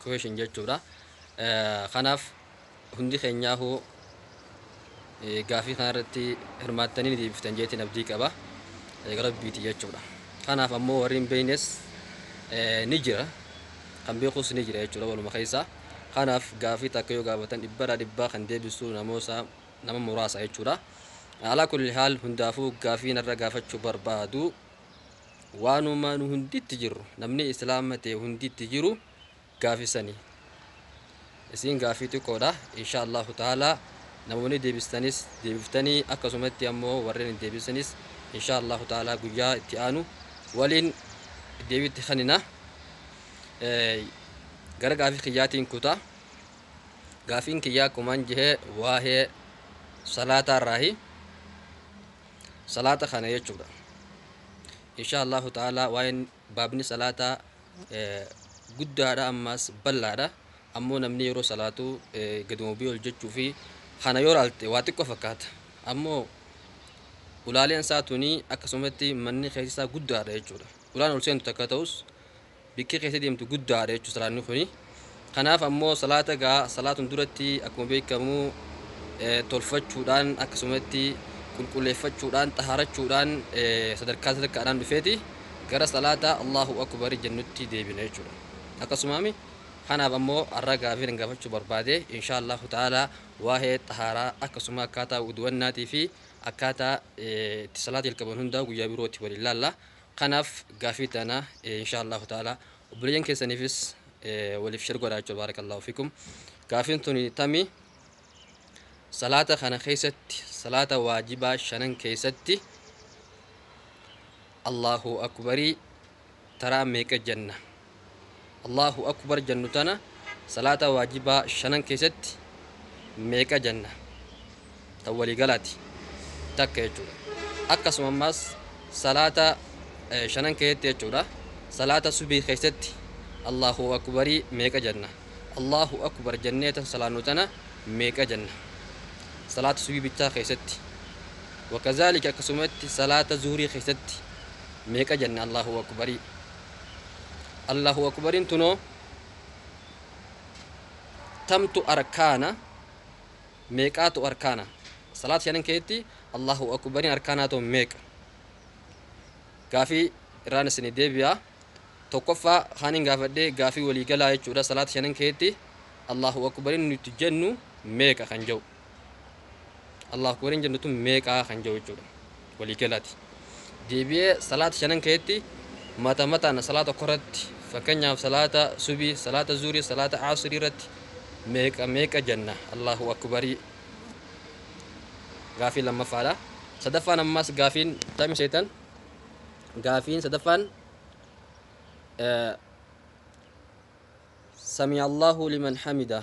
Equation jechuudha. Kanaaf hundi keenyaahuu gaafii kana irratti hirmaattanii ni deebiftan jeetiin abdii qaba. Egaa rabbiiti jechuudha. Kanaaf ammoo warri hin beeknes ni jira. Kan beekus ni jira jechuudha waluma keessaa. Kanaaf gaafii takka yoo gaafatan dhibbarraa dhibbaa kan deebisu namoota nama muraasa jechuudha. Alaa kulli haal hundaafuu gaafii narra gaafachuu barbaadu waanuma nu hunditti jirru namni islaama ta'e hunditti jiru gaafisani isiin gaafii xiqqoodha insha allahu ta'ala namoonni deebistanis deebiftanii akkasumatti ammoo warreen hin deebisanis insha allahu ta'ala guyyaa itti aanu waliin deebitti kanina gara gaafii kiyyaatiin kutaa gaafiin kiyyaa kumaan jihee waa'ee salaataa irraahi salaata kana jechuudha insha allahu ta'ala waa'een baabni salaataa guddaadha ammaas bal'aadha ammoo namni yeroo salaatu gaduma biyya hojjechuu fi kana yoo ilaalte waa xiqqoo fakkaata ammoo ulaaleen isaa tuni akkasumatti manni keessaa guddaadha jechuudha ulaan ol seentu takka ta'us Bikki keessa deemtu guddaadha jechuudha salaanni kuni. Kanaaf ammoo salaata gaa salaatun duratti akkuma beekamu tolfachuudhaan akkasumatti qulqulleeffachuudhaan xahaarachuudhaan sadarkaa sadarkaadhaan dhufeeti gara salaata Allahu Akbar jennutti deebina jechuudha. Akkasumaami kanaaf ammoo har'a gaafii nan gaafachuu barbaade inshaa Allahu ta'aalaa waa'ee xahaaraa akkasuma akkaataa wudu'annaatii fi akkaataa itti salaata jalqaban hundaa guyyaa birootti waliin laalla. Kanaf gafi tana insha Allahu ta'ala obboleyan kesanifis walif sher godha jechu barakallahu fikum gafin tuni tami salata kana kesati salata wajiba shanan kesati Allahu akubari tara meqa jenna. Allaahu Akubar jannu tana salaata waajibaa shanan keessatti meeqa janna? Tan walii galaati. Takka jechuudha. Akkasuma ammaas salaata shanan keessatti jechuudha. Salaata subii keessatti Allaahu Akubarii meeqa janna? Allaahu Akubar jannee tan salaannu tana meeqa janna? Salaata subii bichaa keessatti. Wakazaalika akkasumatti salaata zuhurii keessatti meeqa janna Allaahu Akubarii? Allahu akubarin tunoo tamtu arkaana meeqaatu arkaana salaat shanan keetti Allahu akubarin arkaanaa too meeqa gaafii irraan isin deebi'a tokkoffaa kaanin gaafadhee gaafii walii galaa jechuudha salaat shanan keetti Allahu akubarin nuti jennu meeqa kan jedhu Allahu akbar hin jennu tun meeqaa kan jiru jechuudha walii galaati deebi'ee salaata shanan keetti mata mataan salaata tokko irratti fakkeenyaaf salaata subii salaata zuurii salaata aasirii irratti meeqa meeqa jenna Allahu akbarii gaafii lammaffaadha sadaffaan ammaas gaafiin tami seetan gaafiin sadaffaan samii Allahu liman hamidaa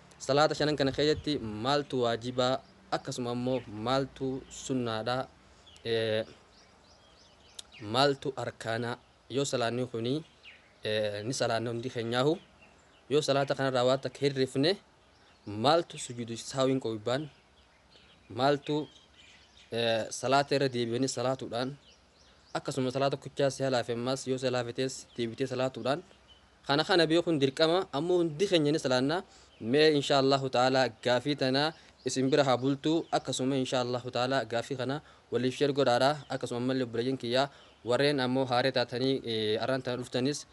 Salaata shanan kana keessatti maaltu waajiba akkasuma immoo maaltu sunnaadha? Maaltu arkaana? Yoo salaanni kuni ni salaanna hundi keenyaahu yoo salaata kanarraa waan takka hirrifne maaltu sujuudu saawiin qobbaan maaltu salaata irra deebi'anii salaatuudhaan akkasuma salaata tokkichaa si halaafe ammaas yoo si halaafetees deebitee salaatuudhaan Kana kana beekun dirqama ammo hundi keenya ni salaanna mee inshaa Allahu ta'aala gaafii tana isin bira haa bultu akkasuma inshaa Allahu ta'aala gaafii kana waliif share godhaadha akkasuma ammalle obboleeyyan kiyya warreen ammo haaree taatanii arraan tana dhuftanis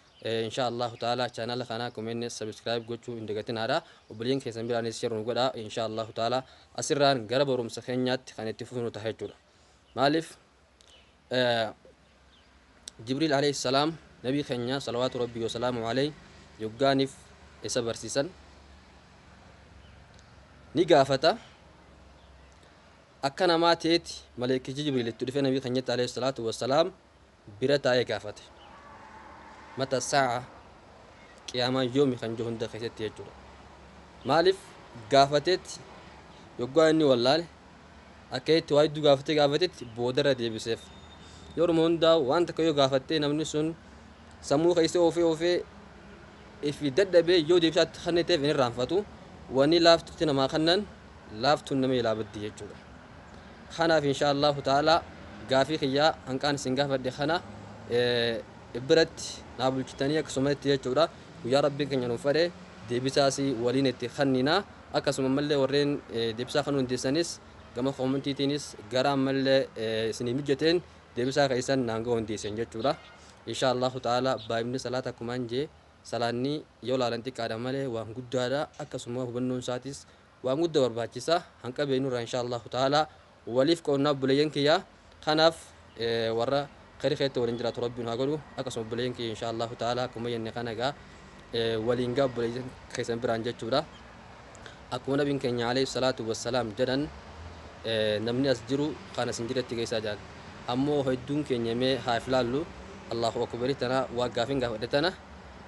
inshaa Allahu ta'aala channel kana comments subscribe gochuu hin dagatinaadha obboleeyyan keessan biraanis share nu godhaa inshaa Allahu ta'aala asirraan gara barumsa keenyaatti kan itti fufnu taha jechuudha maaliif Jibriil Aleyh Salaam Nabii Kenya Salawaatu Rabbii Wasalaamu Aleyh Yoggaa Nif Esa Barsisan Ni Gaafata Akka Namaa Teeti Maleykichi Jibriil Itti Dhufe Nabii Kenyatti Aleyh Salaatu Wasalaam Bira Taa'e Gaafate Mata Saa'a Qiyaamaan Yoomi Kan Jiru Hunda Keessatti Jechuudha Maalif Gaafateetti Yoggaa Inni Wallaale Akka itti waa hedduu gaafatee gaafatetti boodarra deebiseef. Yeruma hundaa waan takka yoo gaafattee namni sun sammuu keessa oofee oofee ifi dadhabee yoo deebisaatti kenniteef hin irraanfatu. Wanni laaftutti namaa kennan laaftuun nama ilaa baddi jechuudha. Kanaaf inshaa Allaahu ta'aalaa gaafii kiyyaa hanqaan isin gaafadhe kana biratti naa bulchitanii akkasumatti jechuudha. Guyyaa Rabbiin keenya nuuf fedhe deebisaas waliin itti kennina. Akkasuma ammallee warreen deebisaa kanuu dandeessanis gama koomentiitiinis gara ammallee isinii mijateen deebisaa keessan naan gahuu dandeessan jechuudha. Inshaa Allahu ta'ala baay'inni salaata akkumaan jee salaanni yoo laalan xiqqaadha malee waan guddaadha akkasuma hubannoon isaatis waan gudda barbaachisa hanqa beeknurraa inshaa Allahu ta'ala Waliif qoodna obboleeyyan kiyya kanaaf warra khayri kheetti waliin jiraatu rabbi nu haa godhu akkasuma obboleeyyan kiyya inshaa Allaahu ta'aala akkuma jenne kana egaa waliin gaa obboleeyyan keessan biraan jechuudha akkuma nabiin keenya alayhi salaatu wassalaam jedhan namni as jiru kan as hin jiretti geessaa jedhan ammoo hedduun keenya mee haa if laallu Allaahu akubari tana waa gaafin gaafadhe tana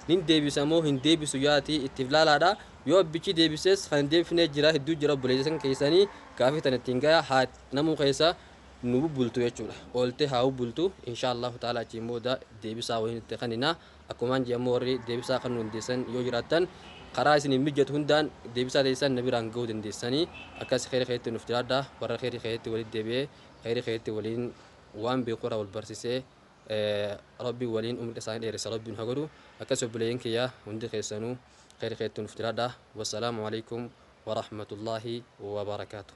nin deebisa moo hin deebisu yaati itti if laalaadha Yoo abbichii deebisees kan hin deebifnee jiraa hedduu jira obboleeysa san keeysanii gaafii tana ittiin gayaa haati namuu keeysa nu bubbultu jechuudha ooltee haa bubbultu inshaa Allaahu ta'aalaa achiin booda deebisaa waliin itti kaninaa akkumaan je'e ammoo warri deebisaa kanuu dandeeysan yoo jiraattan karaa isiniif mijjatu hundaan deebisaa teeysan na biraan gahuu dandeeysanii akkas kheeyri kheeyritti nuuf jiraadhaa warra kheeyri kheeyritti walitti deebi'ee kheeyri kheeyritti waliin waan beeku irraa wal barsisee Rabbiin waliin umrii isaanii dheeressa rabbi nu ha godhu akkasi obboleeyyan kiyya hundi keessanuu kheyri kheyrti nuf jiraadha wassalaamu aleykum warahmatullaahi wabarakatuh.